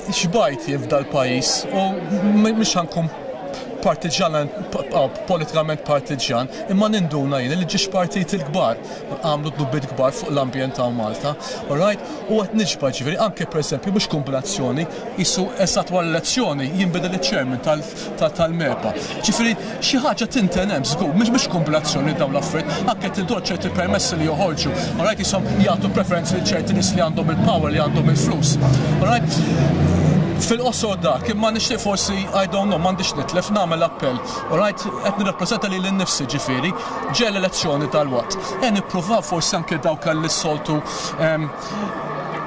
Xbajt jifda l-pajis u mhux ħankun partiġan, politikament partiġan, imma ninduna jien li ġiex partit il-kbar, għamlu dubbiet kbar fuq l-ambjent ta' Malta, right? U għet nġba ġiviri, anke per esempio, biex kombinazzjoni, jisu esat għal elezzjoni, jimbidel il-ċermen tal l-impatt tal-MEPA. Ġifieri xi ħaġa tinten hemm żgur, mhix mhix kumpilazzjoni dawn l-affarijiet, anke tintuha ċerti permessi li joħorġu, all right, qishom jagħtu preferenza lil ċerti nies li għandhom il-power, li għandhom il-flus. All right? Fil-qosor dak, imma nixtieq forsi, I don't know, m'għandix nitlef, nagħmel appell. All right? Qed nirrappreżenta lili nnifsi ġifieri, ġej l-elezzjoni tal-Watt. Ejja nippruvaw forsi anke dawk li soltu ehm,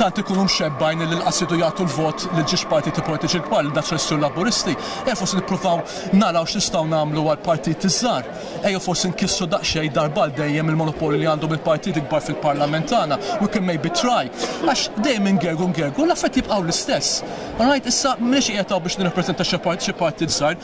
tant ikunu mxebbgħin illi lqas iridu jagħtu l-vot lil xi x'partiti politiċi l-kbar, lil Daċ Restri u l-Laburisti. Ejja forsi nippruvaw naraw x'nistgħu nagħmlu għall-partiti ż-żgħar. Ejjew forsi nkissru daqsxejn darba għal dejjem il-monopolju li għandhom il-partiti kbar fil-Parlament tagħna, we can maybe try. Għax dejjem ingergu ngergu, l-affarijiet jibqgħu l-istess. All right, issa m'iniex qiegħed hawn biex nirrappreżenta xi partit żgħir,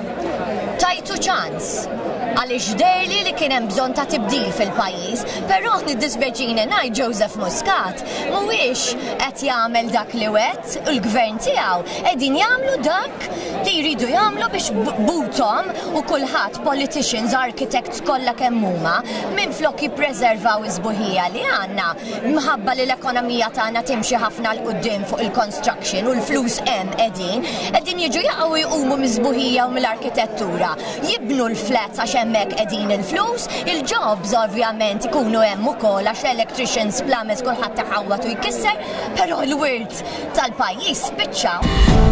Tajtu ċans, għaliex deherli li kien hemm bżonn ta' tibdil fil-pajjiż, però jiddispjaċini ngħid Joseph Muscat mhuwiex qed jagħmel dak li wegħed u l-Gvern tiegħu qegħdin jagħmlu dak li jridu jagħmlu biex b'buthom u kulħadd, politicians, architects kollha kemm huma, minflok jippreservaw is-sbuħija li għandna, Minħabba li l-ekonomija tagħna timxi ħafna 'l quddiem fuq il-construction u l-flus hemm qegħdin, qegħdin jiġu jaqgħu jqumu mis-sbuħija u mill-arkitettura. Jibnu l-flats għax hemmhekk qegħdin il-flus, il-jobs ovvjament ikunu hemm ukoll għax electricians, plumbers kulħadd iħawwad u jkisser, però l-wirt tal-pajjiż spiċċa.